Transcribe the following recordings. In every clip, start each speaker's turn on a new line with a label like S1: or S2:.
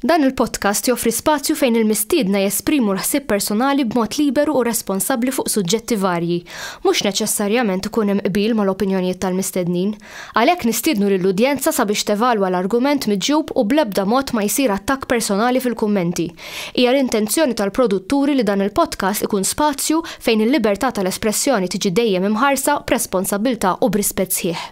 S1: Dan il-podcast joffri spazju fejn il-mistiedna jesprimu l-ħsieb personali b'mod liberu u responsabbli fuq suġġetti varji. Mhux neċessarjament ikun hemm qbil mal-opinjonijiet tal-mistednin. Għalhekk nistiednu lill-udjenza sabiex tevalwa l-argument miġjub u bl-ebda mod ma jsir attakk personali fil-kummenti. Hija l-intenzjoni tal-produtturi li dan il-podcast ikun spazju fejn il-libertà tal-espressjoni tiġi dejjem imħarsa b'responsabbiltà u b'rispett sħiħ.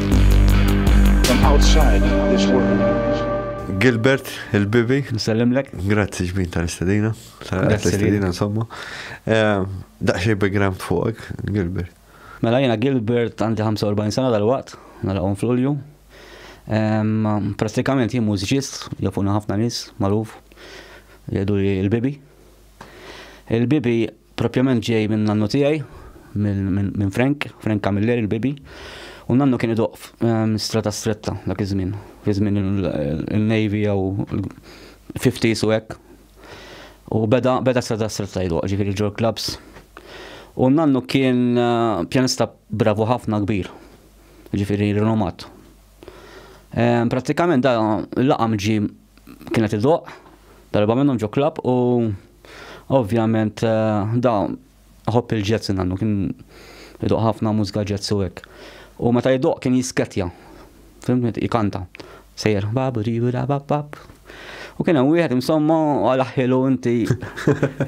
S2: Gilbert,
S3: il-bibi. Nsellimlek.
S4: Grazzi ġbin
S3: tal-istedina. Tal-istedina, insomma. Eh, Daqxie background fuqek, Gilbert. Mela jena
S4: Gilbert għandi 45 sena dal-waqt, nalaqom fl-ulju. Pratikament jien mużiċist, jafuna ħafna nis, maruf, jgħidu li l-bibi. Il-bibi Propjament ġej minn nannu tiegħi, minn Frank, Frank Camilleri l-bibi, u nannu kien idoq ehm, strata stretta dak iż-żmien, fi żmien il-Navy jew 50s u hekk. U beda beda strata stretta jdoq, ġifieri ġol clubs. U nannu kien eh, pjanista bravu ħafna kbir, ġifieri rinomat. Ehm, prattikament da l-laqam ġi kienet id-doq, darba minnhom ġo klab u ovvjament eh, da ħobb il-ġezz nannu kien id-doq ħafna mużika ġezz u hekk. U meta id-doq kien jisketja, fimmet ikanta, sejjer babu ribu da bab bab. U kien hemm wieħed insomma għal ħilu inti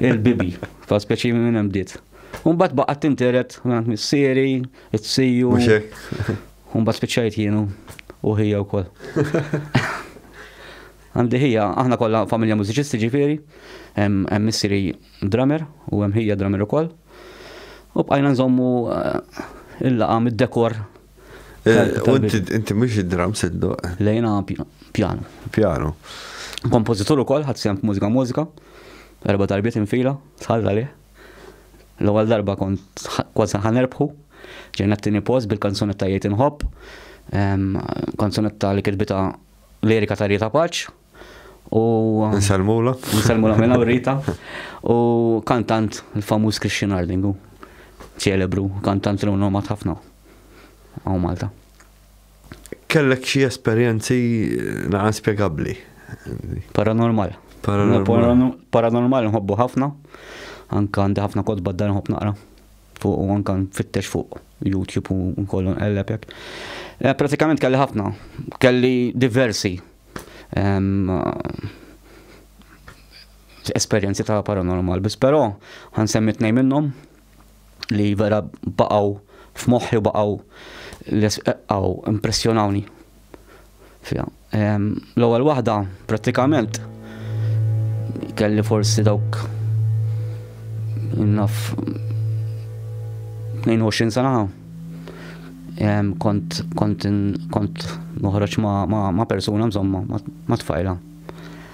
S4: il-bibi, fa' speċi minn hemm bdiet. Umbat baqgħet tinteret minn missieri, it-siju. U mbagħad spiċċajt jien u ħija wkoll. Għandi ħija, aħna kollha familja mużiċisti ġifieri, hemm missieri drummer u hemm ħija drummer ukoll. U bqajna nżommu eh, il-laqa mid-dekor. Eh,
S3: inti mhux id-drum siddu. Eh? Lejna
S4: pjano. Pjano.
S3: Kompożitur
S4: ukoll ħadd sehem mużika mużika. Erba' darbiet infila, tħalla lih. L-ewwel darba kont kważi ħa nerbħu, ġejna t-tieni post bil-kanzunetta Jgħid Inħobb, kanzunetta li kitbita lirika ta' Rita Paċ. Nsalmula.
S3: Nsalmula minna u Rita.
S4: U kantant il-famuż Christian Ardingu, ċelebru, kantant li unnomat ħafna. Għaw Malta.
S3: Kellek xi esperjenzi naqra spjegabbli. Paranormal.
S4: Paranormal. Paranormal nħobbu ħafna. Anka għandi ħafna kotba d-dar nħobb naqra. Fuq u anka nfittex fuq YouTube u nkollu nqelleb hekk. Eh, pratikament kelli ħafna, kelli diversi ehm, esperjenzi ta' paranormal, bis però għan semmi tnej minnhom li vera baqgħu f'moħħi u baqgħu l-esqaw impressjonawni. L-ewwel waħda prattikament kelli forsi dawk naf 22 sena kont kont kont noħroġ ma' persuna mżomma ma' tfajla.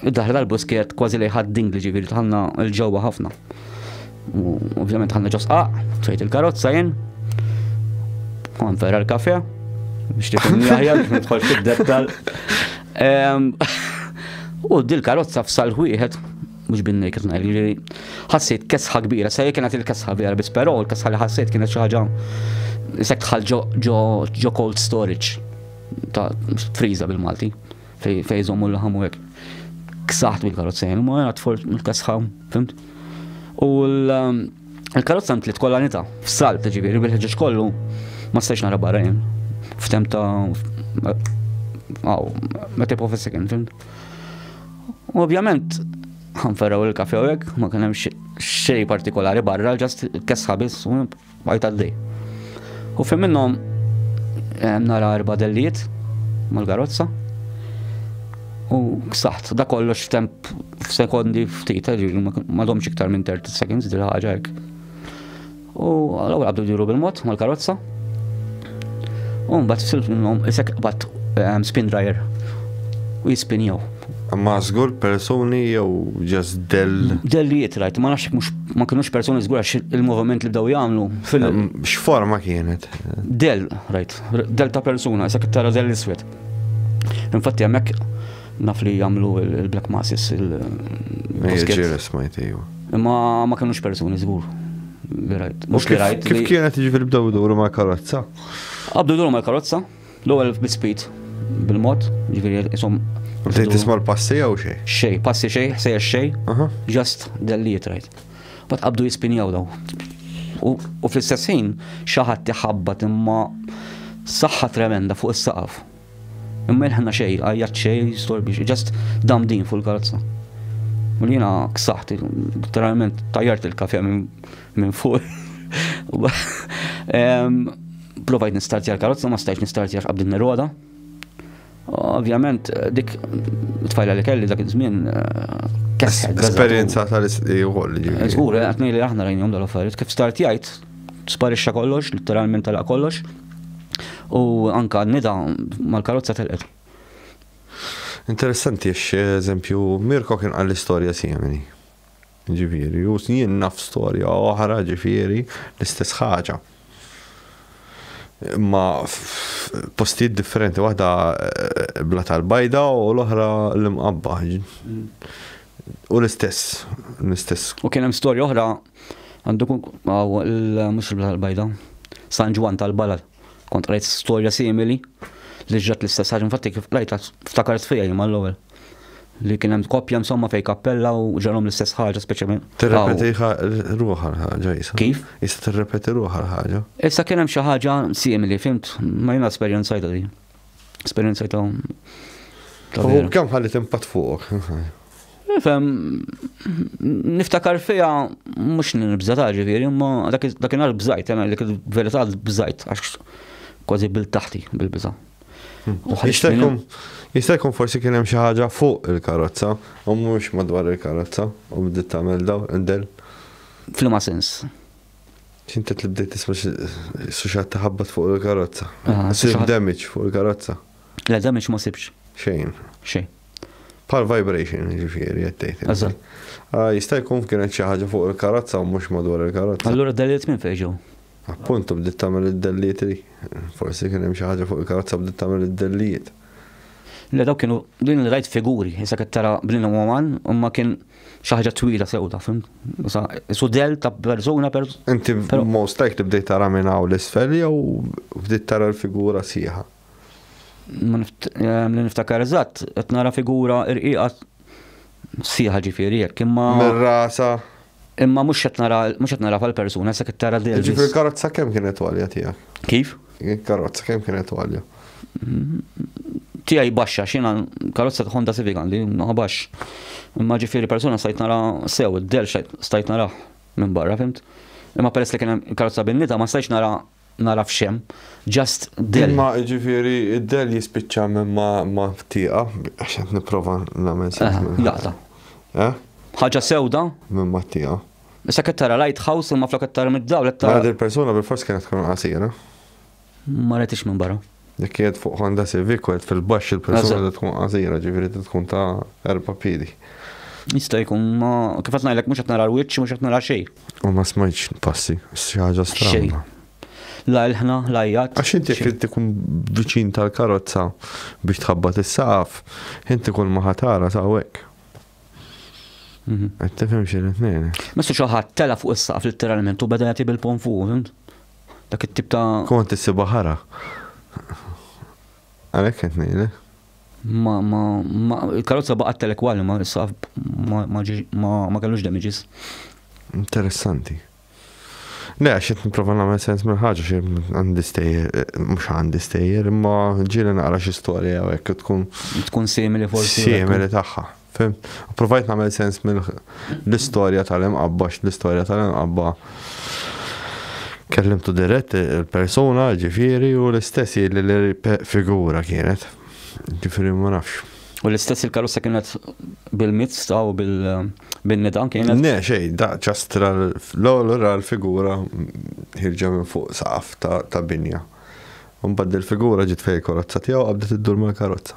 S4: Id-daħla tal-bus kienet kważi li ħaddin li ġifieri tħanna l-ġewwa ħafna. U ovvjament ħanna ġosqaq, tfejt il-karozza jien. Għan ferra l-kafe, biex tifhem jaħjar biex nidħol fid-dettal. Ehm, u dil-karozza f'sal wieħed mux binni kif ngħid, jiġifieri ħassejt kesħa kbira, sa kienet il-kesħa vera biss, però l-kesħa li ħassejt kienet xi ħaġa sekk tħal ġo cold storage ta' friza bil-Malti. Fej fej żommu l-laħam u hekk. Ksaħt bil-karozza jien, ma għat forġ mill-kasħam, fimt? U l-karozza ntlit kollha nita, f'salb ta' ġifieri bil-ħeġġeġ kollu, ma stajx nara barra jien. F'tem ta' għaw, ma tepo fis-sekin, fimt? Ovvjament, ħanferraw il-kafe u hekk, ma kien hemm xej partikolari barra, ġast kesħa biss, Għajt għaddi. U fim minnom eh, nara erba dellijiet mal-garozza. U ksaħt, da kollox temp sekondi ftit, eh, ma domx iktar minn 30 seconds dil ħaġa hekk. U għal-għu għabdu diru bil-mod mal-karozza. U mbagħad silt minnhom isek qbad eh, spin dryer u jispinjaw. Ma żgur
S3: persuni jew ġas dell. Dellijiet
S4: rajt, ma nafx mhux ma kinux persuni żgur għax il-moviment li bdew jagħmlu fil. X'forma
S3: kienet? Dell rajt,
S4: dell ta' persuna, sak tara dell iswed. Infatti hemmhekk naf li jagħmlu il-black masses il. Ġiri smajt iju. Imma ma kinux persuni żgur. Li rajt. Mhux li
S3: rajt. Kif kienet jiġifieri bdew iduru mal-karozza? Abdu duru
S4: mal-karozza. L-ewwel bispeed bil-mod, ġifieri isom. Bdejt tisma' l-passi
S3: jew xej? Xej, passi xej, sejja
S4: xej, just delliet rajt. Bat qabdu jispinjaw daw. U fl-istess ħin xaħat tiħabbat imma saħħa tremenda fuq is-saqaf. Imma il-ħna xej, għajjat xej, storbi, just dam din fuq il-karozza. U li jena ksaħt, literalment tajjart il-kafe minn Minn fuq. Provajt nistartja l-karozza, ma stajt nistartja x'qabdin neroda. Ovvjament, dik tfajla li kelli dak iż-żmien kesħed. Esperjenza
S3: tal-isqi u koll. Żgur, għatni
S4: li aħna rajnjom dal-affarijiet. Kif startjajt, sparixxa kollox, literalment tala kollox. U anka nida mal-karozza telqet. Interessanti,
S3: eżempju, Mirko kien għall-istoria simili. Ġifieri, u jien naf storja oħra, ġifieri, l-istess ħaġa. Imma postijiet differenti, waħda eh, bla tal-bajda u l-oħra l-imqabba. U l-istess, l-istess. U kien hemm storja
S4: oħra għandu mhux il-bla tal-bajda, San Ġwan tal-Balal. Kont qrajt storja simili li ġrat l-istess ħaġa infatti kif qrajtha ftakart fija jien mal-ewwel. Li kien hemm koppja insomma fej kappella u ġarhom l-istess ħaġa speċjalment. Tirrepeti
S3: ruħha l-ħaġa jisa. Kif? Jisa tirrepeti
S4: ruħha
S3: l-ħaġa. Issa kien hemm xi ħaġa
S4: simili, fimt, ma jiena esperjenzajta din. Esperjenza ta' U
S3: kemm ħalli timpat fuq? Fem,
S4: niftakar fija mhux nibża ta' ġifieri, imma dakinhar bżajt, jena dik il-verità bżajt għax kważi bil taħti bil-biża. Hmm.
S3: Jista' jkun forsi kien hemm xi ħaġa fuq il-karozza u mhux madwar il-karozza u bdiet tagħmel daw indel. Flima
S4: sens. Xinti
S3: li bdejt tisma suxat taħabbat fuq il-karozza. Ah, Sib suxat- damage fuq il-karozza. Le damage ma
S4: sibx. Xejn. Xejn. Pal
S3: vibration ġifieri qed tgħid. inti. Eżatt. Ah, Jista' jkun kienet xi ħaġa fuq il-karozza u mhux madwar il-karozza. Allura daliet minn fejn ġew.
S4: Appuntu bdiet
S3: tagħmel id-dellijiet li forsi kien hemm xi ħaġa fuq il-karozza bdiet tagħmel id-dellijiet. Le
S4: dawk kienu din li rajt figuri, issa qed tara bnina uman, imma kien xi ħaġa twila sewda, fim? Issa sudell ta' persuna per. Inti
S3: most likely bdejt tara minn hawn l-isfel jew bdejt tara l-figura sieħa?
S4: Li niftakar eżatt, qed nara figura irqiqa Sieħa ġifieri jekk imma. Minn rasha.
S3: Imma mhux
S4: qed nara mhux qed nara bħall-persuna se qed tara dil. Ġifieri l-karozza kemm kienet
S3: għalja tiegħek? Kif? Il-karozza
S4: kemm
S3: kienet għalja? Tiegħi
S4: baxxa x'ina karozza ta' Honda Civic għandi ma baxx. Imma ġifieri persuna stajt nara sew id-del stajt nara minn barra fimt. Imma peress li kien hemm karozza binnita ma stajtx nara nagħraf x'hemm, just dell. Imma jiġifieri
S3: d-dell jispiċċa hemm ma' tieqa, għax qed nipprova nagħmel sens. Eh, laqta.
S4: Eh? Ħaġa sewda? Minn ma' tieqa.
S3: Issa qed tara
S4: lighthouse imma flok qed tara mid-dawl qed tara. Għad il-persuna bil-fors kienet
S3: tkun qasira. Ma
S4: retix minn barra. Dik kienet fuq Honda
S3: Civic u fil-baxx il-persuna li tkun qasira, ġifieri tkun ta' erba' piedi. Jista' jkun
S4: ma kif qed ngħidlek mhux qed nara l-wiċċ mhux qed nara xejn. U ma smajtx
S3: passi, xi ħaġa strana. La
S4: ilħna, la jgħat. Għax inti jekk inti tkun
S3: viċin tal-karozza biex tħabbat is-saqaf, inti kull ma ħatara sawek. Mhm. Qed tifhem xi ngħid. Messu xi ħadd tela
S4: fuq is-saqaf litteralment u beda jagħti bil-pon fuq, Dak it-tip ta'. Kont issibha ħara.
S3: Għalhekk qed ngħidlek. Ma, ma, ma,
S4: il-karozza baqgħet telek wali ma saf ma, ma, ma, ma kellux damages. Interessanti.
S3: Le, għax qed nipprova nagħmel sens minn ħaġa xi għandi stejjer, mhux għandi stejjer, imma ġieli naqra xi storja hekk tkun. Tkun simili forsi. Simili tagħha. Fem, provajt namel sens mill l-istoria tal-imqabba, l-istoria tal-imqabba kellimtu dirett il-persona ġifiri u l-istess li l-figura kienet. Ġifiri ma nafx. U l-istess il-karussa
S4: kienet bil-mizz ta' u bil-nidan kienet? Ne, xej, da
S3: ċastra l-għolra l-figura ħirġa minn fuq saqaf ta' binja. Unbad il-figura ġit fej karozza tijaw għabdet id-dur mal-karozza.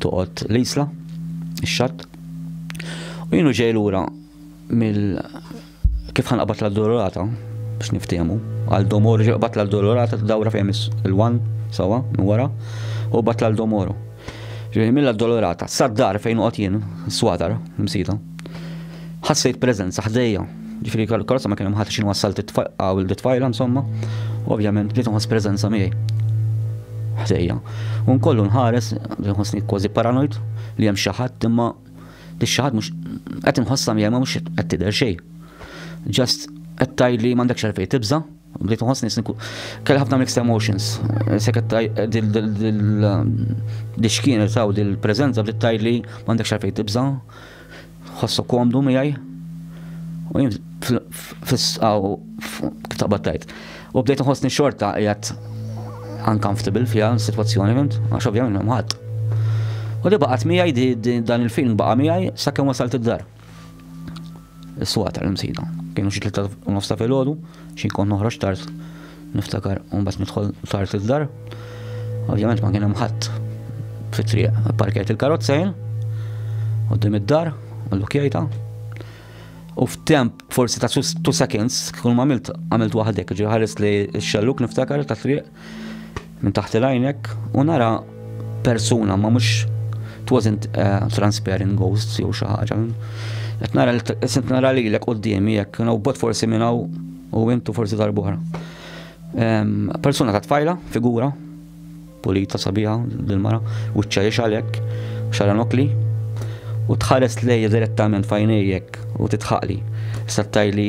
S4: toqgħod l-isla, ix-xatt. U jienu ġej lura mill kif ħanqabad l-addolorata biex niftehmu. Għal domor ġeqbat l-addolorata dawra fejn il-wan sawa minn wara u bat l-domoro. Ġej mill-addolorata sad-dar fejn uqgħod jien, swadar, msita. Ħassejt preżenza ħdejja. Ġifieri karozza ma kien hemm ħadd xi nwassalt it-tfajla u t-tfajla insomma. Ovvjament bdejt inħoss preżenza miegħi ħdejja. U nkollu nħares, nħossni kważi paranoid li hemm xi ħadd imma dik xi ħadd mhux qed inħossha miegħi ma mhux qed tidher xejn. Just qed tgħidli m'għandekx għalfejn tibża'. Bdejt nħossni sinku. Kelli ħafna mixed emotions. Seket dil-xkien taw dil-prezenza bdiet tajli m'għandek xarfej tibża. Ħossu komdu miegħi. U jien fis-sqaw taqbad tajt. U bdejt nħossni xorta qiegħed uncomfortable fiha s-sitwazzjoni fint, għax ovvjament m'hemm ħadd. U li baqgħet miegħi dan il-film baqa' miegħi sakemm wasalt id-dar. Is-suqa tal-imsida. Kienu xi tlieta u nofs ta' filgħodu, xi kont noħroġ tard niftakar u mbagħad nidħol tard id-dar. Ovvjament ma kien hemm ħadd fit-triq parkejt il-karozza jien qudiem id-dar u l-lukjajta. U f'temp forsi ta' two seconds kull ma għamilt għamilt waħdek, ġi ħares li x-xelluk niftakar ta' triq Minn taħt il-għajnek u nara persuna ma mhux it wasn't uh, transparent ghost jew xi ħaġa. Qed nara qed nara lilek qudiemi jekk no bot forsi minn hawn u intu forsi darbora. Um, persuna ta' tfajla, figura, pulita sabiħa dil-mara, u ċċajiex għalek, xara nokli, u tħares lejja direttament fajnejek u titħaqli. Sattaj li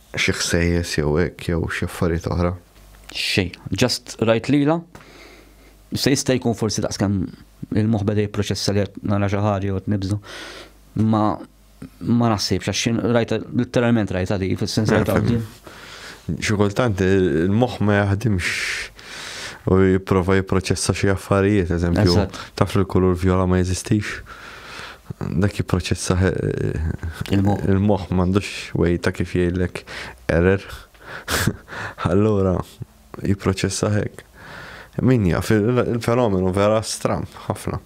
S3: Xi ħsejjes jew hekk jew xi affarijiet oħra? Xejn.
S4: Just rajt lilha. Se jista' jkun forsi daqskemm il-moħħ beda jipproċessa li qed nara xi ħaġa jew qed nibża. Ma ma naħsibx għax xi rajta litteralment rajta li fis-sens li tgħaddi. Xi kultant il-moħħ
S3: ma jaħdimx u jipprova jipproċessa xi affarijiet, eżempju, taf li l-kulur vjola ma jeżistix. dak jipproċessaħ il-moħħ m'għandux way ta' kif jgħidlek error. Allura jipproċessaħ hekk. Min jaf, il-fenomenu vera stram ħafna.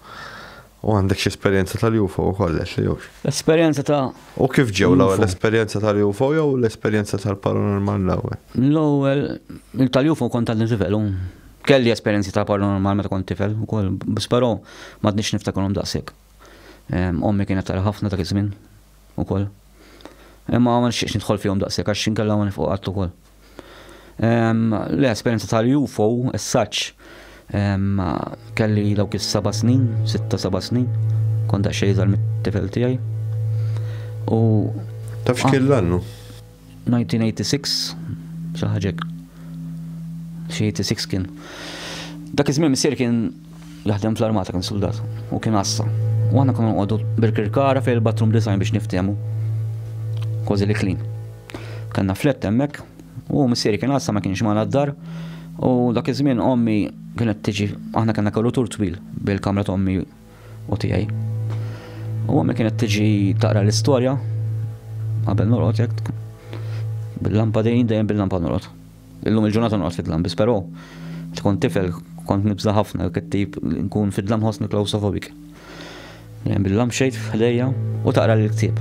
S3: U għandek xi esperjenza tal-UFO wkoll li jux. Esperjenza ta'
S4: U kif ġew l-ewwel
S3: l-esperjenza tal-UFO jew l-esperjenza tal-paranormal l-ewwel? L-ewwel
S4: tal-UFO kont tal-livell Kelli esperjenzi ta' paranormal meta kont tifel ukoll, biss però m'għadniex niftakarhom daqshekk. Ommi kienet tara ħafna dak iż-żmien ukoll. Imma ma nixtieqx nidħol fihom daqshekk għax inkella ma nifqu qatt ukoll. Le, esperjenza tal-UFO, as such, kelli dawk is-seba' snin, sitta seba' snin, kont daqsxejn iżgħar mit-tifel tiegħi. U
S3: Taf x'kien l-annu? 1986
S4: xi ħaġa hekk. Xi 86 kien. Dak iż-żmien missier kien jaħdem fl-armata kien soldat u kien għassa. U aħna konna nqogħdu birkirkara fejn il-bathroom design biex niftehmu. Kważi li klin. Kanna flett hemmhekk u missieri kien għassa ma kienx ma d-dar u dak iż-żmien ommi kienet tiġi aħna kellna korrutur twil bil-kamra ta' ommi u tiegħi. U għammi kienet tiġi taqra l-istorja qabel norqod jekk bil-lampa dejjem dejjem bil-lampa norqod. Illum il-ġurnata norqod fid-dlam biss però tkun tifel kont nibża ħafna kittib nkun fid-dlam ħossni klausofobik. Dejjem bil-lamp xejt f'ħdejja u taqra l-ktieb.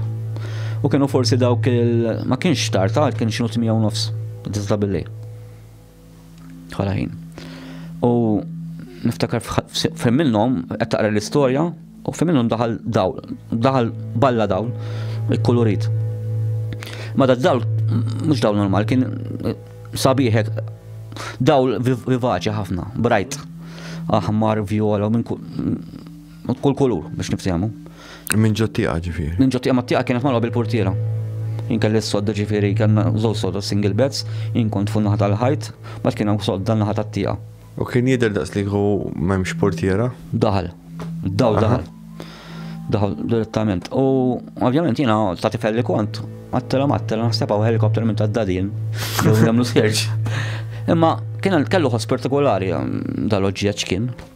S4: U kienu forsi dawk il ma kienx tar tard kien xinu 8 nofs, tista' billej. Bħala ħin. U niftakar f'fem minnhom qed taqra l-istorja u f'fem minnhom daħal dawl, daħal balla dawl, ikkulurit. Ma da dawl mhux dawl normal, kien sabiħek dawl vivaċi ħafna, brajt, aħmar, viola, minn Kull kulur biex niftehmu. Minn ġottiqa
S3: ġifieri. Minn ġottiqa ma tiqa kienet magħluqa
S4: bil-portiera. Jien kelli s-sodda ġifieri kellna żewġ sodda single beds, jien kont fuq naħa tal-ħajt, mbagħad kien hawn sodda naħa tat-tieqa. U kien jidher
S3: daqs li kieku m'hemmx portiera? Daħal.
S4: Dawl daħal. Daħal direttament. U ovvjament jiena ta' tifel li kont, għattela mattela naħseb hawn helikopter minn tad-dadin, jew jagħmlu skerġ. Imma kien kellu ħoss partikolari um, dal-oġġett kien.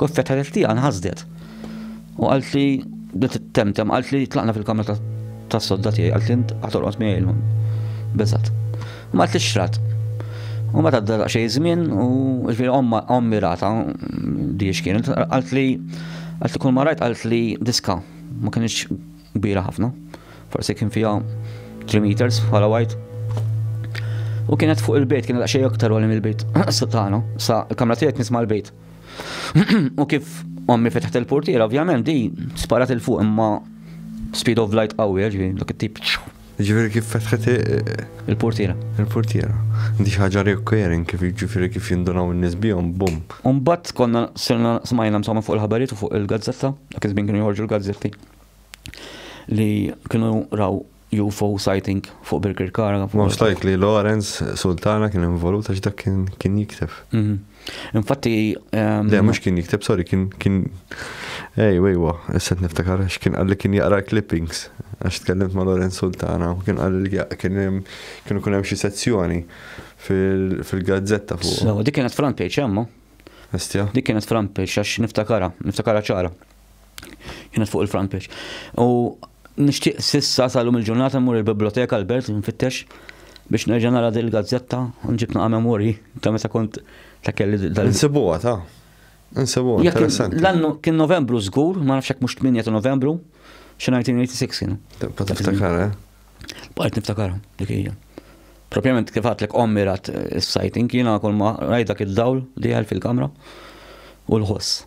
S4: Kif fetħet il-ħtieqa nħasdet. U qaltli bdiet temtem, qaltli tlaqna fil-kamra tas-sodda tiegħi, qaltli int ħatorqod miegħi llum. Beżgħet. U ma qaltlix x'rat. U meta għadda daqsxejn żmien u ġifieri ommi rata di x'kienet, qaltli qaltli kull ma rajt qaltli diska ma kienx kbira ħafna. Forsi kien fiha 3 meters bħala wajt. U kienet fuq il-bejt, kienet daqsxejn aktar għalim il-bejt tagħna, sa l-kamra tiegħek nisma' l-bejt. U kif ommi fetħet il-portiera, ovvjament di sparat il-fuq imma speed of light qawwi, ġifieri dak it-tip. Ġifieri kif
S3: fetħet il-portiera.
S4: Il-portiera.
S3: Di ħaġa recurring kif ġifieri kif jindunaw in-nies bihom, bum. Umbat konna
S4: sirna smajna msomma fuq il-ħabarijiet u fuq il-gazzetta, dak iż-żmien kienu joħorġu l-gazzetti li kienu raw UFO sighting fuq Birkirkara. Most likely
S3: Lawrence Sultana kien involut għax dak kien jikteb. Mhm. Infatti.
S4: Ehm, Le,
S3: mux kien jikteb, sorry, kien. kien... Ej, wejwa, s-set niftakar, għax kien għalli kien jaqra clippings, għax tkellimt ma' Lorenz Sultana, u kien għalli kien kienu kunem xie sezzjoni fil-gazzetta fuq. So, dik kienet front page,
S4: jemmu? Estja. Dik
S3: kienet front page,
S4: għax niftakara, niftakara ċara. Kienet fuq il-front page. U nixtieq sissa salum il-ġurnata mmur il-biblioteka Albert nfittex biex nerġa' nara din il-gazzetta u nġib naqa' memorji ta' meta kont ta' kelli dal. Insibuha ta'
S3: Insibuha interessanti. L-annu kien Novembru
S4: żgur, ma nafx hekk mhux 8 ta' Novembru, xi 1986 kienu. Tibqa' tiftakar, eh?
S3: Bqajt
S4: niftakar dik hija. Propjament kif għatlek ommi rat is-sajting jiena kull ma rajt dak id-dawl dieħel fil-kamra u l-ħoss.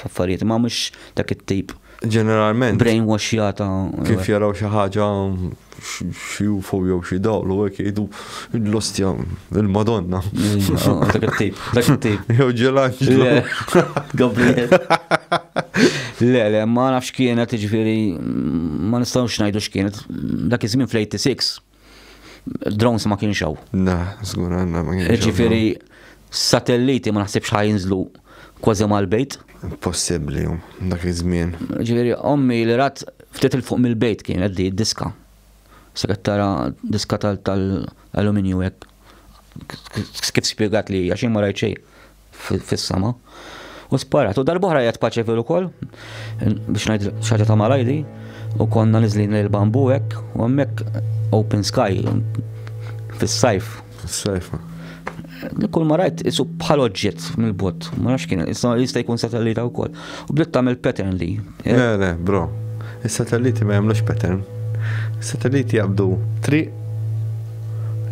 S4: f'affarijiet, ma mhux dak it-tip. Ġeneralment. Brain
S3: washjata.
S4: Kif jaraw xi
S3: ħaġa xi UFO jew xi dawl u hekk jgħidu l-ostja il-Madonna. Dak
S4: it-tip, dak it-tip. Jew ġelanġlu.
S3: Gabriel.
S4: Le, le, ma nafx kienet, ġifieri ma nistgħux ngħidu x'kienet. Dak iż-żmien fl-86 Drones ma kienx hawn. Na, żgur għandna ma
S3: kienx. Ġifieri
S4: satelliti ma naħsibx ħajinżlu kważi mal-bejt. Possibbli
S3: dak iż-żmien. Ġifieri ommi
S4: li rat ftit il fuq mill-bejt kien qed diska. Se qed tara diska tal-aluminju hekk. Kif spjegat li għax ma rajt xejn. fis-sema u sparat. U darb'oħra jgħat paċefil ukoll biex ngħid xaġa ta' malajdi u konna niżlin lejn bambu hekk u hemmhekk open sky fis-sajf. Fis-sajf. Kull ma rajt isu bħal oġġett mill-bot, ma nafx kien, issa jista' jkun satellita wkoll. U bdiet tagħmel pattern li. Eh? Le, le, bro.
S3: Is-satelliti ma jagħmlux pattern. Is-satelliti jabdu triq.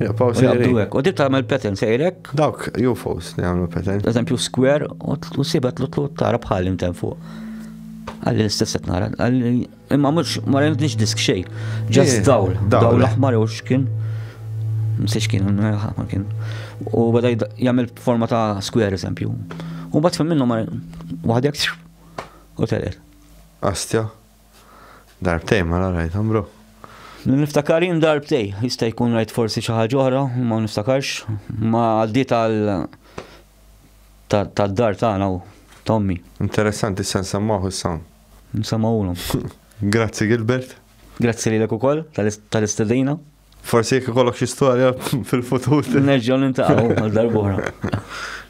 S3: Jabdu hekk. U
S4: dit tagħmel pattern sejrek Dawk UFOs
S3: li għamlu pretend. Eżempju skwer
S4: u sibet l tara bħal intemm fuq. Għalli l-istess qed nara. Imma mhux ma rajtniex disk xejn. Ġast eh, dawl, dawl l-aħmar jew x'kien. Msiex kien, ma kien. U bada jagħmel forma ta' skwer eżempju. U bat fil minnu ma waħdek u telet. Astja.
S3: Darbtejn mela rajthom bro. Niftakar
S4: jien darbtej, jista' jkun rajt forsi xi ħaġa oħra, ma niftakarx, ma għaddiet għal tad-dar tagħna u tommi. Interessanti se
S3: nsemmaħu s-sam. Nsemmaħulhom.
S4: Grazzi
S3: Gilbert. Grazzi lilek
S4: ukoll tal-istedina. Forsi jekk
S3: ikollok xi storja fil-futur. Nerġgħu nintaqgħu
S4: għal darb'oħra.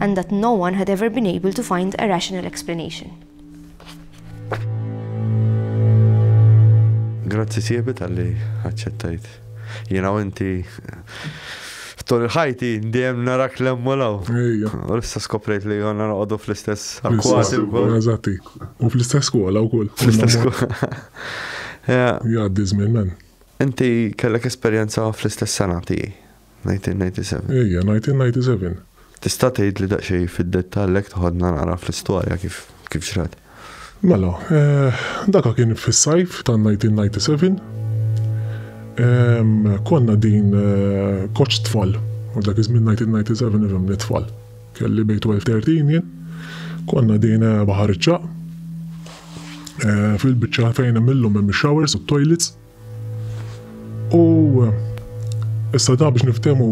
S1: and that no one had ever been able to find a rational explanation.
S3: Grazzi siebi tal-li għacċettajt. Jena u inti tul ħajti diem narak l-emmolaw. U l-istess koprejt li għanna naqodu fl-istess akkwati u kol. Eżatti.
S5: U fl-istess skola u kol. Fl-istess
S3: skola.
S5: Jaddi zmin men. Inti kellek
S3: esperienza fl-istess sena tijie. 1997. Ejja, 1997.
S5: Tista'
S3: tgħidli daqsxejn fid-dettall hekk toħodna naqra fl-istorja kif kif ġrat? Mela,
S5: eh, daka kien fis-sajf ta' 1997. Ehm, konna din eh, koċ tfal, u dak iż-żmien 1997 ifhem li tfal. Kelli bejn 12-13 jien. Konna din eh, baħar iċċaq. Eh, fil-biċċa fejn hemm illum hemm ix-showers u t-toilets. U issa ta' biex niftemu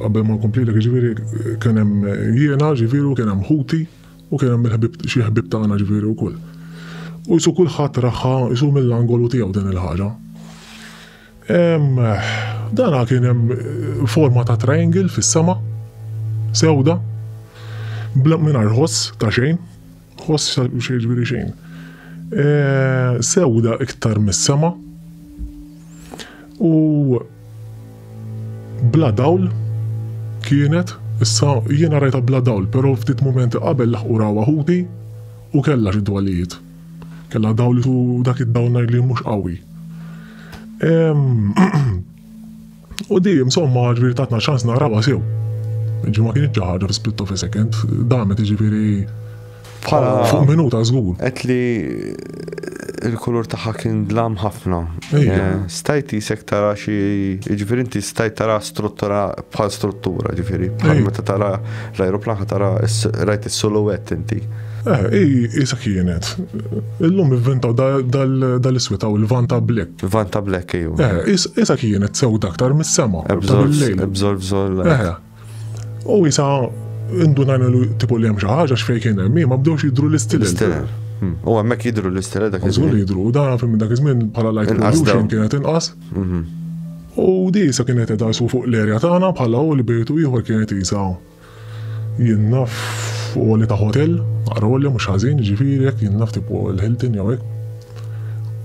S5: qabel ma nkomplilek ġifieri kien hemm jiena ġifieri kien hemm ħuti u kien hemm il-ħbib xi ħbib tagħna ġifieri wkoll. U jisu kulħadd raħħa jisu mill-angolu tiegħu din il-ħaġa. Dana kien hemm eh, forma ta' triangle fis-sema, sewda, bla mingħajr ħoss ta' xejn. Ħoss xal mhux jiġri xejn. Eh, sewda iktar mis-sema u bla dawl kienet issa jiena rajta bla dawl, però ftit momenti qabel laħqu rawa ħuti u kellha xi dwalijiet. Kellha dawl u dak id-dawl ngħid li mhux qawwi. U di, insomma, ġviri tatna ċans narawa sew. Ġi ma kienx ħaġa fi split of a second, damet ġviri bħala fuq minuta żgur. Qed li
S3: il-kulur tagħha kien dlam ħafna. Eh, stajt jisek tara xi ġifieri inti stajt tara struttura bħal struttura ġifieri. Meta tara l-ajruplan tara rajt is-soluwett inti. Eh, i, isa kienet. Illum inventaw dal-iswit għaw il-vanta black. Vanta black, iju. Eh, isa kienet
S5: sew daktar mis-sema. Ebżol, ebżol,
S3: ebżol. Eh,
S5: u isa indunajna li tipo li hemm xi ħaġa x'fej kien hemm, ma bdewx jidru l-istil. Hmm. U hemmhekk
S3: jidru l-istil dak iż-żmien. Żgur jidru, dan fil dak
S5: iż-żmien bħala light pollution kienet inqas. Mhm. U di sa kienet edha fuq l-erja tagħna bħala u l-bejtu ieħor kienet jisaw. Jien naf f'għoli ta' hotel, għar għolja mhux ħażin, jiġifieri hekk jien naf tipu l-Hilton jew hekk.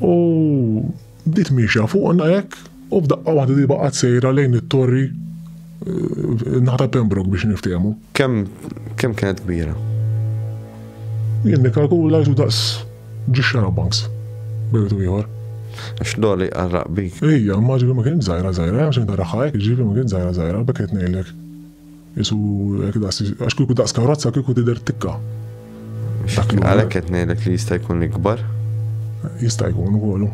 S5: U bdiet miexja fuqna hekk u f'daqqa waħda di baqgħet sejra lejn it-torri eh, naħta Pembroke biex niftehmu. Kemm
S3: kemm kienet kbira?
S5: Jien nikkalkula jtu daqs ġixxara banks. Bejtu ieħor. Għax doli
S3: għarraq bik. Ija, maġi ma kien
S5: zaħira zaħira, għax inta raħħajk, ġivi ma kien zaħira zaħira, bekket nejlek. Isu hekk daqs għax kieku daqs karozza kieku tidher tikka.
S3: Għalhekk qed ngħidlek li jista' jkun ikbar. Jista'
S5: jkun ukoll.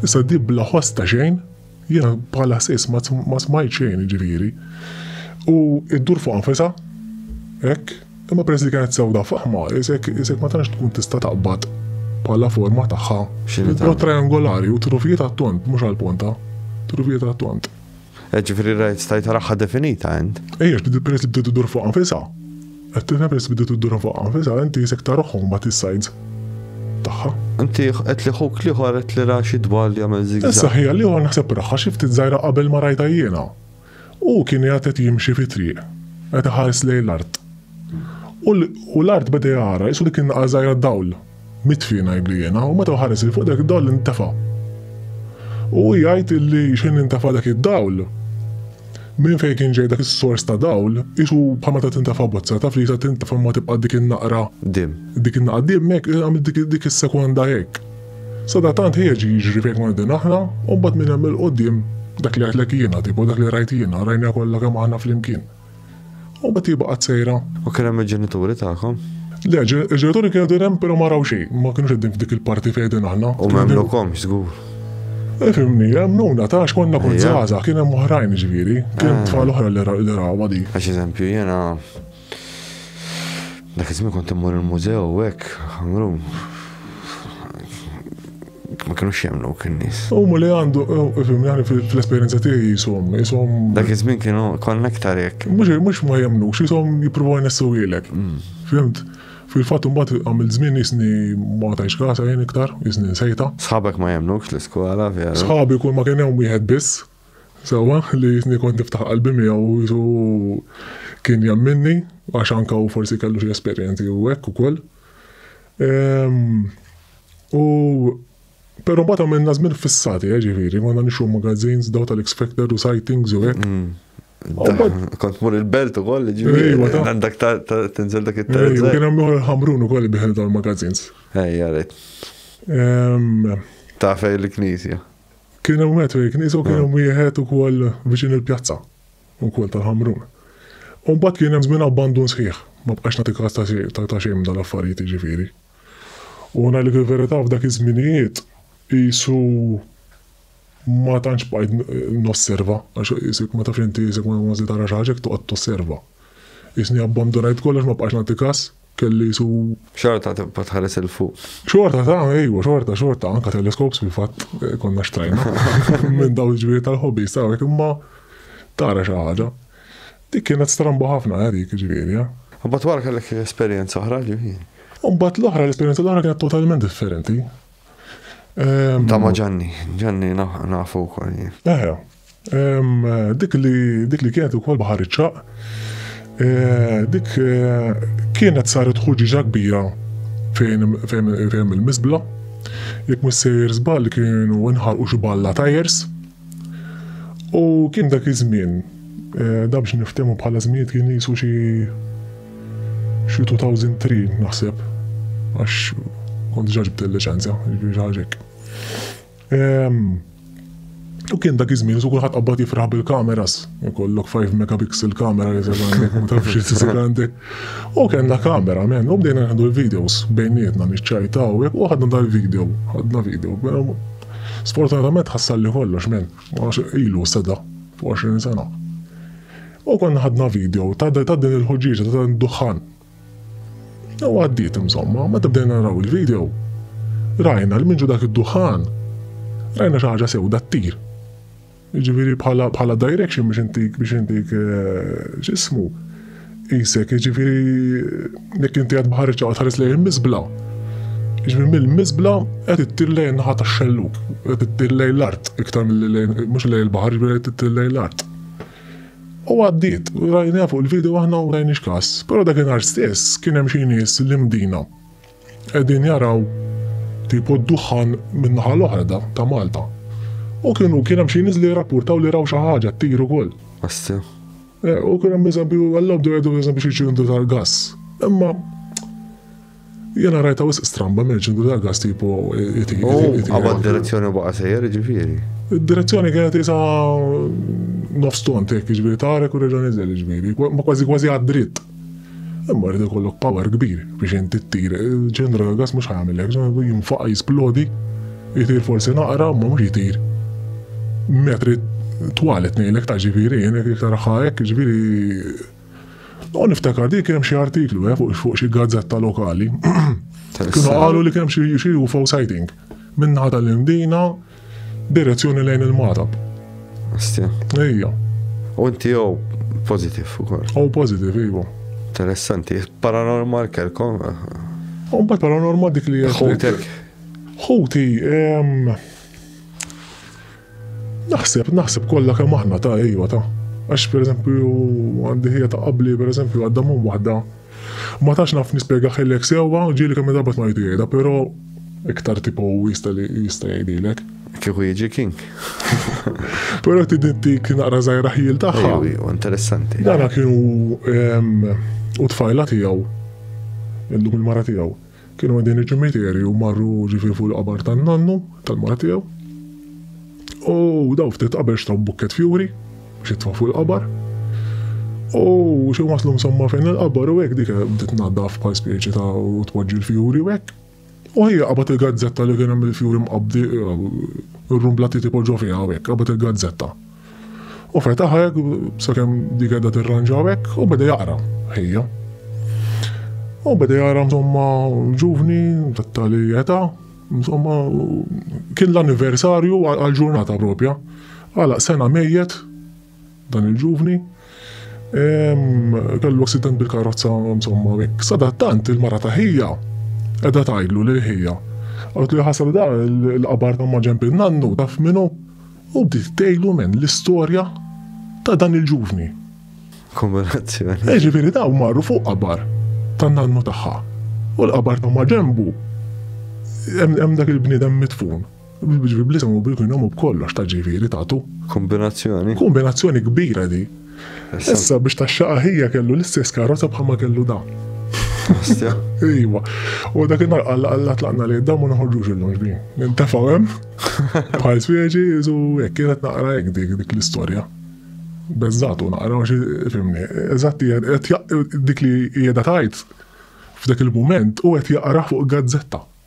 S5: Issa di bla ħoss ta' xejn, jiena bħala sis ma smajt xejn ġifieri. U iddur fuq anfisa, hekk, imma peress li kienet sewda faħma, isek isek ma tantx tkun tista' taqbad bħala forma tagħha. X'inhi triangolari u trufijiet għat-tont mhux għall-ponta. Trufijiet għat-tont. Eh, ġifiri rajt
S3: stajt raħħa definita int. Ejja, bdiet peress li bdiet
S5: dur fuq nfisa. Qed tifhem peress bdiet dur fuq nfisa, inti jisek taruħhom bat is-sajds tagħha. Inti qed li ħuk li
S3: ħor qed li raxi dwar li jagħmel zigzag. Issa ħija li ħor naħseb
S5: raħħa xi ftit żgħira qabel ma rajta jiena. U kien qed jimxi fi triq, qed iħares lejn l-art. U l-art beda jara, jisu li kien għażajra dawl, Mitfi, ngħidlu jiena, u meta hu ħares 'il fuq dak id-dawl intefa'. U hu jgħid illi x'ħin intefa' dak id-dawl, minn fejn kien ġej dak is-sors ta' dawl, qisu bħal meta tintefa' bozza, taf li sa tintefa' imma tibqa' dik in-naqra, Dim. dik
S3: in-naqra dim hekk,
S5: qisu għamel dik, dik is-sekonda hekk. Sadattant ħieġ jiġri fejn konna qegħdin aħna, u mbagħad minn hemm 'il quddiem, dak li għidtlek jiena, tipo dak li rajt jiena, rajniha kollha kemm aħna flimkien.
S3: U
S5: Betty baqgħet
S3: sejra.
S5: U kien
S3: hemm
S5: il-ġenituri tagħkom? Le, il-ġenituri kienu din hemm però ma raw xejn, ma kinux qegħdin f'dik il-parti fejn qegħdin aħna. U m'għemnukomx
S3: żgur. Ifhimni,
S5: għemnuna ta' għax konna kont żgħażagħ, kien hemm oħrajn ġifieri, kien hemm tfal oħra li rawha di. Għax eżempju jiena
S3: dak iż-żmien kont immur il-mużew hekk, ħamrun. ma kienux jemnu kien nis. U ma li għandu,
S5: fim, jgħani fil-esperienza tiegħi jisom, jisom. Dak iż-żmien kienu
S3: konna iktar jekk. Mhux mhux ma jemnux,
S5: jisom jippruvaw jnessewilek. Mm. Fimt? Fil-fatt imbagħad għamil żmien jisni ma tajx kasa jien iktar, jisni nsejta. Sħabek ma jemnux
S3: l-iskola vera. Sħabi kull ma kien hemm
S5: wieħed biss. Sewa li jisni kont niftaħ qalbi miegħu jisu kien jemminni għax anka u forsi kellu xi esperjenzi u hekk ukoll. Ehm, U Pero mbagħad għamilna żmien fissati, eh, ġifieri, konna nixu magazines daw tal-X Factor u sightings u hekk. Mm.
S3: Kont mur il-belt u koll, ġifieri. Għandak tinżel dak it-terz. Kien hemm ukoll ħamrun
S5: ukoll biħel tal-magazines. Ejja, rejt.
S3: Ta' fej l-knisja. Kien hemm wieħed
S5: fej knisja u kien hemm wieħed ukoll viċin il-pjazza ukoll tal-ħamrun. U mbagħad kien hemm żmien abbandun sħiħ, ma bqax nagħti kas ta' xejn dal-affarijiet ġifieri. U ngħidlek il-verità f'dak iż-żminijiet qisu ma tantx bqajt nosserva għax isek ma tafx inti isek ma se tara xi ħaġa jekk toqgħod tosserva. Isni abbandunajt kollox ma bqajtx nagħti każ, kelli qisu Xorta tibqa'
S3: tħares il fuq. Xorta ta'
S5: ejwa, xorta, xorta, anka teleskops fil-fatt eh, konna xtrajna minn dawn il-ġbiri tal-hobby, sawek imma tara xi ħaġa. Dik kienet strambu ħafna eh, dik ġifieri. Eh. Mbagħad wara kellek
S3: esperjenza oħra ġifieri. Mbagħad l-oħra
S5: l-esperjenza l-oħra kienet totalment differenti.
S3: Ehm, Ta' ma ġanni, ġanni nafu wkoll. Eħe. Ehm,
S5: dik li dik li kienet ukoll baħar iċċaq. Eh, dik eh, kienet saret ħuġiġa kbira fejn il-misbla. Jekk missejjer żball kienu nħarqu xi balla tajers. U kien dak iż-żmien, da biex niftehmu bħala żminijiet kien qisu xi xi 2003 naħseb għax kont diġà ġibt il-liċenzja, jiġifieri xi ħaġa hekk. U kien dak iż-żmien su kulħadd qabad jifraħ bil-kameras, ikollok 5 megapixel kamera li taf xi tisir għandek. U kellna kamera men u bdejna nieħdu l-videos bejnietna niċċajtaw u ħadna dal-video, ħadna video. Sfortunatament ħassalli kollox men, għax ilu seda fuq 20 sena. U konna ħadna video ta' din il-ħuġġieġa ta' dan id-duħħan. U għaddiet insomma, meta bdejna naraw il-video, rajna l-minġu dak id-duħħan, rajna xi ħaġa sewda ttir. Jiġifieri bħala bħala direction biex intik biex intik eh, x'ismu. Isek, jiġifieri jekk inti qed baħar iċċaqat ħares lejn il-miżbla. Jiġifieri mill-miżbla qed ittir lejn naħa tax-xelluk, qed ittir lejn l-art iktar milli lejn mhux lejn il-baħar, jiġifieri qed ittir lejn l-art. U għaddiet, rajna fuq il-video aħna u rajni x'kas. Però dakinhar stess kien hemm xi nies li mdina. Qegħdin jaraw tipo d-duħħan min-naħa l-oħra da ta' Malta. U kienu kien hemm xi nies li jirrapportaw li raw xi ħaġa ttir ukoll. Assi.
S3: Eh, u kien
S5: hemm eżempju għallhom dwar għedu eżempju xi ċindu tal-gass. Imma jena rajta wis stramba minn ċindu tal-gass tipo iti. Għabad
S3: direzzjoni baqa sejjer ġifieri. Direzzjoni kienet
S5: isa nofston tek ġifieri tarek u reġa' niżel ġifieri, ma kważi kważi għad-dritt. Imma jrid ikollok power kbir biex inti ttir. Ġenra gas mhux ħajamel hekk, jinfaqa' jisplodi, jtir forsi naqra, imma mhux jtir metri twalet ngħidlek ta' ġifieri jien jekk taraħħa hekk, ġifieri U niftakar dik hemm xi artiklu eh, fuq fuq xi gazzetta lokali. Kienu qalu li kemm xi xi UFO sighting. Minnaħa tal-Indina, Direzzjoni lejn il-Magħrab. Astja. Ejja. U
S3: inti jew positif ukoll. Oh, positif, iva.
S5: Interessanti,
S3: paranormal kelkom. Un bat
S5: paranormal dik li Ħutek.
S3: Ħuti,
S5: naħseb, naħseb kollha kemm aħna ta' ejwa ta' għax per eżempju għandi ħija ta' qabli per eżempju għadda mum waħda Ma tantx naf nispjegahielek sewwa, ġieli kemm-il darba smajtu jgħidha, però iktar tipo hu jista' li jista' jgħidhielek. Kieku jiġi
S3: King.
S5: Però trid intik naqra żgħira ħjiel tagħha. Ejjew, ejjew, interessanti.
S3: Dana kien hu
S5: u t-tfajla tiegħu, illum il-mara tiegħu. Kienu għaddejn iċ-ċimiterju u marru ġifieri fuq il-qabar tan-nannu, tal-mara tiegħu. U daw ftit qabel xtraw bukket fjuri biex jitfa' fuq il-qabar. U xi waslu insomma fejn il-qabar u hekk dik bdiet tnaddaf bħal speċi ta' u tpoġġi l-fjuri u hekk. U hija qabad il-gazzetta li kien hemm il-fjuri mqabbdi, ir-rumbla trid ipoġġuha fiha u hekk, qabad il-gazzetta. U fetaħ hekk sakemm dik qiegħda tirranġaw hekk u beda jaqra ħejja. U beda jara insomma ġuvni tat-tali età, insomma kien l-anniversarju għal-ġurnata propja. Għala sena mejjet dan il-ġuvni kellu accident bil-karozza insomma hekk. Sadattant il-mara ta' ħija edha tajdlu lil ħija. Għallu li ħasal da l-qabar ta' maġemp il-nannu taf minu U bdiet tgħidlu minn l-istorja ta' dan il-ġuvni. Kumulazzjoni.
S3: E ġifieri daw
S5: marru fuq qabar ta' nannu tagħha. U l-qabar ta' maġembu hemm dak il-bniedem mitfun. Ġifieri bl-isem u bil-kunjom u b'kollox ta' ġifieri tagħtu. Kombinazzjoni.
S3: Kombinazzjoni kbira
S5: di. Issa biex taxxa aħija kellu l-istess karozza bħalma kellu da.
S3: Iwa.
S5: U dak id-nar għalla għalla tlaqna li d-dam u naħorġux il-lum ġbi. Nintafaw hemm, bħal spieġi, u jek kienet naqra jek dik dik l-istorja. Bezzatu naqra u fimni. Eżatti, dik li jeda tajt f'dak il-moment u għet jaqra fuq gazzetta.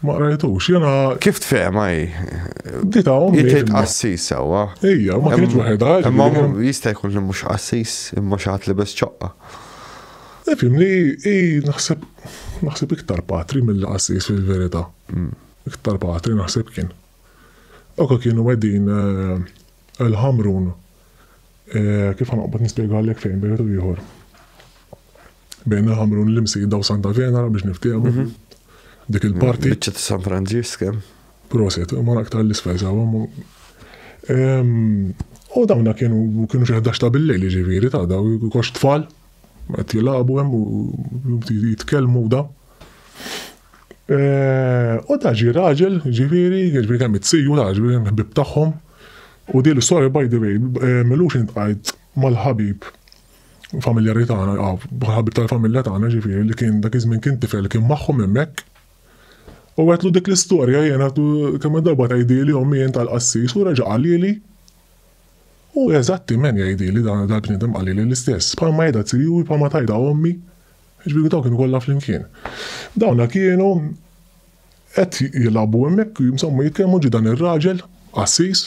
S5: Ma qrajtux, jena. Kif tfehma hi?
S3: Dita hawn.
S5: Jiet qassis sewwa.
S3: Ija, ma kienx waħedha.
S5: Imma jista'
S3: jkun li mhux qassis, imma xi ħadd libes ċoqqa. Ifhim
S5: li hi naħseb naħseb iktar patri mill-qassis fil-verità. Hmm. Iktar patri naħseb kien. Oka kienu qegħdin eh, il-ħamrun eh, kif ħanqbad nispjegalek fejn bejtu ieħor. Bejna Ħamrun l-Imsida u Santa Venera biex niftiehmu. Mhm. Dik il-parti. Biċċa ta' San Franġisk
S3: hemm. Proset,
S5: ma aktar l-isfel sawa. U dawna kienu kienu xi ħdax ta' bil-lejl ġifieri ta' daw kox tfal qed jilagħbu hemm u jitkellmu da. Eh, u ta' ġi raġel ġifieri, ġifieri kemm it-siju ta' ġifieri hemm ħbib tagħhom. U di l-istorja by the way, eh, milux intqajt mal-ħabib familjari tagħna, ah, ħabib tal-familja tagħna ġifieri li kien dak iż-żmien kien tifel kien magħhom hemmhekk. U għetlu dik l-istorja jien għetlu kemm darba tgħidili ommi jien tal-qassis u reġa' qalili. U eżattiment jgħidili dan dal-bniedem qalili l-istess, bħalma jgħidha tirjuri bħalma tajda ommi. Ġifieri dawn kienu kollha flimkien. Dawna kienu qed jilagħbu hemmhekk jimsommu jitkellmu ġi dan ir-raġel qassis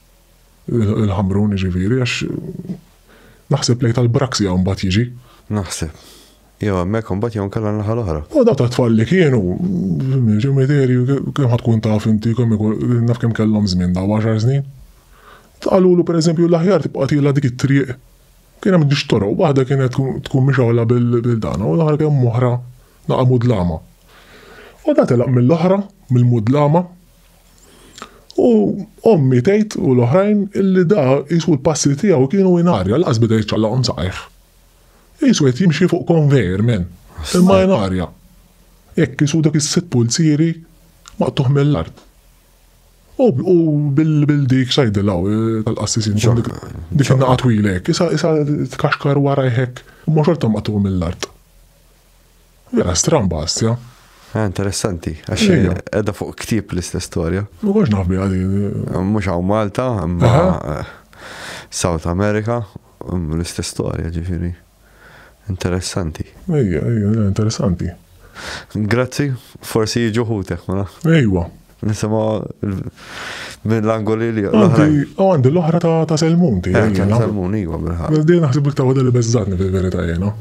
S5: Il-Ħamrun jiġifieri għax naħseb lejn tal-Braxia mbagħad jiġi. Naħseb.
S3: Jew hemmhekk imbagħad jew nkella naħa l-oħra. U daw tat-tfal li kienu
S5: ġemiteri kemm ħad tkun taf inti kemm naf kemm kellhom żmien daw għaxar snin. Qalulu pereżempju l-aħjar tibqa' tila dik it-triq. Kien hemm dix toroq, waħda kienet tkun mixawla bil-dana u l-aħħar kemm oħra naqa' mudlama. U da telaq mill-oħra, mill-mudlama, U ommi tgħid u l-oħrajn illi da qisu l-passi tiegħu kienu in arja lanqas beda jiċċallaqhom saqajh. Qisu qed jimxi fuq konvejer men, imma in arja. Hekk qisu dak is-sitt pulzieri maqtugħ mill-art. U u bil bil dik x'għidilha u tal-qassisin John dik dik in-naqa twila hekk, issa issa tkaxkar warajh hekk, imma xorta maqtugħ mill-art. Vera stramba għastja. Ah, interessanti,
S3: għax Ejja. edha fuq ktib l-istess storja. Ma konx naf biha din.
S5: Mhux hawn
S3: Malta, imma Aha. eh, South America, mm, l-istess storja ġifieri. Interessanti. Ejja,
S5: ejja, interessanti.
S3: Grazzi, forsi jiġu ħutek, ma naf. Ejwa. Nisema minn l-angoli li l-oħrajn. U għandi l-oħra
S5: ta' Selmun ti. Eh, ta' Selmun,
S3: iwa bil-ħak. Għazdi naħseb li tawda li
S5: bezzatni fil-verita jena.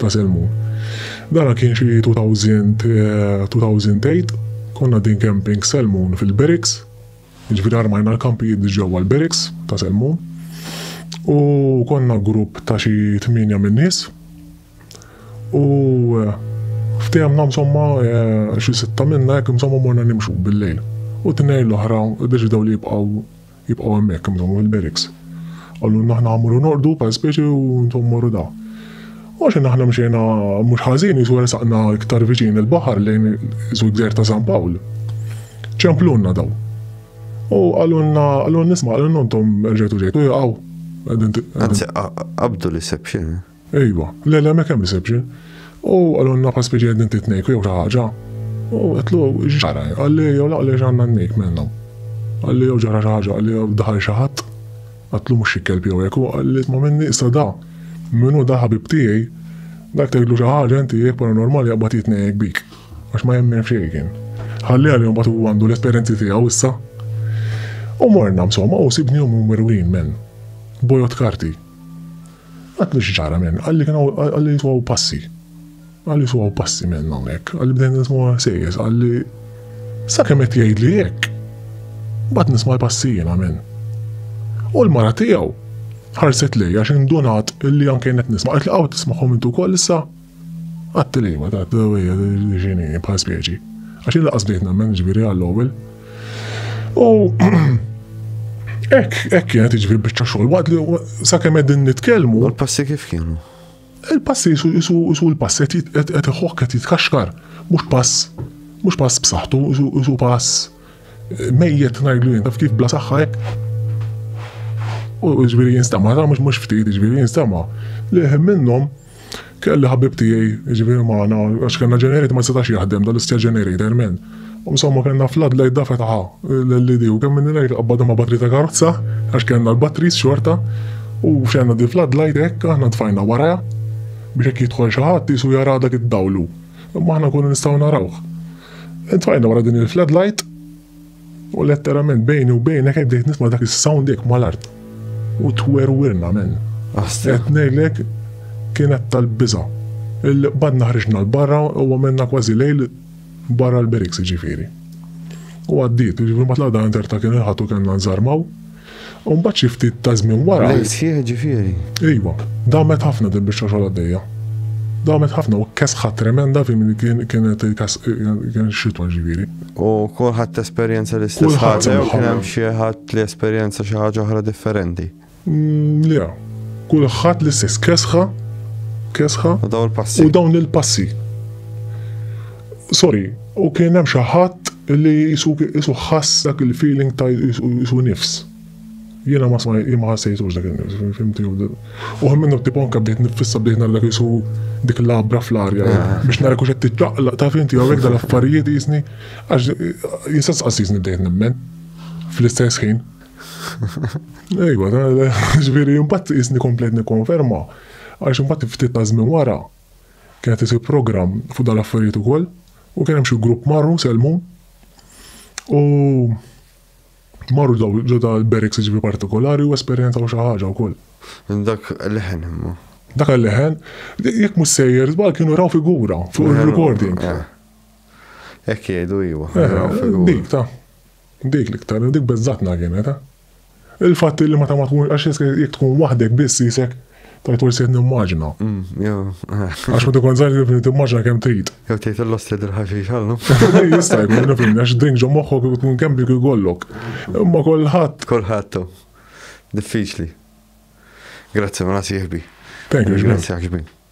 S5: Ta' Selmun. Dana kien xie 2000, 2008, eh, konna din camping Selmun fil-Beriks. Ġviri armajna l-kampijiet ġewwa l-Beriks ta' Selmun. U konna grupp ta' xi 8 minn nies U ftehim na msomma eh, xi sitta minna hekk msomma morna nimxu bil-lejl. U tnejn l-oħra deċidaw li jibqgħu jibqgħu hemmhekk msomma fil-barracks. Qallu naħna ħamuru norqdu pa speċi u ntom morru da. U xi naħna mxejna mhux ħażin jisu saqna iktar viċin il-baħar lejn jisu gżer ta' San Pawl. Ċemplunna daw. U għalunna għalun nisma' għalun nontom rġetu ġejtu jgħaw. Anzi,
S3: qabdu li sebxin. Ejwa, le
S5: le ma kemm reception. U qalulna bħal speċi qegħdin titnejku jew xi ħaġa. U għedtlu x'ġara? Qalli jew la għaliex għandna n-nejk minnhom. Qalli jew ġara xi ħaġa, qalli jew daħal xi ħadd. Għedtlu mhux xi kelb jew hekk, u qalli isma' minni issa da min hu da ħabib tiegħi, dak tgħidlu xi ħaġa inti jekk paranormali jaqbad jitnejjek bik. Għax ma jemmen f'xejn kien. Ħalli għalih mbagħad hu għandu l-esperjenzi tiegħu issa. U morna msomma u sibnihom imwerwrin minn bojod karti. Għedtlu xi ġara minn, qalli kien hawn, qalli nismgħu passi. Qalli nismgħu passi minn hawnhekk, qalli bdejna nismgħu ħsejjes, qalli sakemm qed jgħidli hekk. Mbagħad nisma' l-passi jiena minn. U l-mara tiegħu ħarset lejja x'indunat li anke qed nisma' qed li qaw tismagħhom intu wkoll issa. Għat-tliema ta' hija li x'inhi bħala speċi. Għax jien laqas bdejt nemmen ġifieri għall-ewwel. U hekk hekk kienet iġifieri biċċa xogħol waqt li sakemm qegħdin nitkellmu. Il-passi kif kienu?
S3: Il-passi jisu
S5: jisu l-pass qed iħok qed jitkaxkar, mhux pass mhux pass b'saħħtu, jisu pass Mejjet ngħidlu jien taf kif bla saħħa hekk. U ġifieri jinstama, ta' mhux mhux ftit, ġifieri jinstama. Li minnhom kelli ħabib tiegħi, ġifieri magħna, għax kellna ġenerit ma setax jaħdem dal-istess ġenerit, ermen. U insomma kellna flad lejt da fetaħa l-lidi u kemm minni lejt qabbada ma' batri ta' karozza, għax kellna l-batris xorta, u xenna di flad lejt hekk aħna tfajna waraja biex hekk jidħol xi ħadd jisu jara dak id-dawlu. Imma aħna nkunu nistgħu narawh. Intfajna wara din il-floodlight u letterament bejni u bejnek qed bdejt nisma' dak is-sound hekk mal-art. U twerwirna men. Qed ngħidlek kienet tal-biża'. Il-qbadna ħriġna l-barra u għamilna kważi lejl barra l-beriks jiġifieri. U għaddiet, jiġifieri mbagħad l-għada interta kien il-ħadd u kellna nżarmaw. U mbagħad xi ftit ta' żmien wara. Lejl sħiħ ġifieri.
S3: Ejwa,
S5: damet ħafna din biex xogħol għaddejja. Damet ħafna u kesħa tremenda fi min kien kienet kien xitwa ġifieri. U kulħadd
S3: esperjenza l-istess ħaġa jew kien hemm xi ħadd li esperjenza xi ħaġa oħra differenti. Mm, le,
S5: kulħadd l-istess kesħa kesħa.
S3: U dawn il-passi. U dawn il-passi.
S5: Sorry, u kien hemm xi ħadd li qisu qisu ħass dak il-feeling ta' qisu nifs. Jiena ma sma ma ħassejtux dak il-nifs, fimti? U hemm minnu tipo anke bdejt nifissa bdejt nara dak qisu dik labra fl-arja eh, ah. biex nara kux qed tiċċaqlaq ta' fimti jew hekk dal-affarijiet jisni għax jista' tqassisni bdejt nemmen fl-istess ħin. Ejwa, ġifieri imbagħad jisni komplet nikkonferma għax imbagħad ftit ta' żmien wara Kienet isir programm fuq dan l-affarijiet ukoll u kien hemm xi grupp marru sellmu u marru ġo ta' l-barracks jiġifieri partikolari u esperjenzaw xi ħaġa wkoll. Dak
S3: leħen imma. Dak il-leħen,
S5: jekk mhux sejjer żball kienu raw figura fuq il-recording.
S3: Hekk jgħidu iva. Dik ta'
S5: dik l-iktar, dik beżżatna kienet. Il-fatt illi meta ma tkun għax jekk tkun waħdek biss jisek tajt forsi qed nimmaġina. Mm, għax ma tkun żgħar kif timmaġina kemm trid. Jew tgħid il-losti
S3: dirħaxi xallu. Jista' jkun
S5: nifhem għax drink ġo moħħok tkun kemm dik ikollok. Imma kulħadd. Kulħadd.
S3: Diffiċli. Grazzi ma nasieħbi.
S5: Thank you,
S3: Grazzi ħaġbi.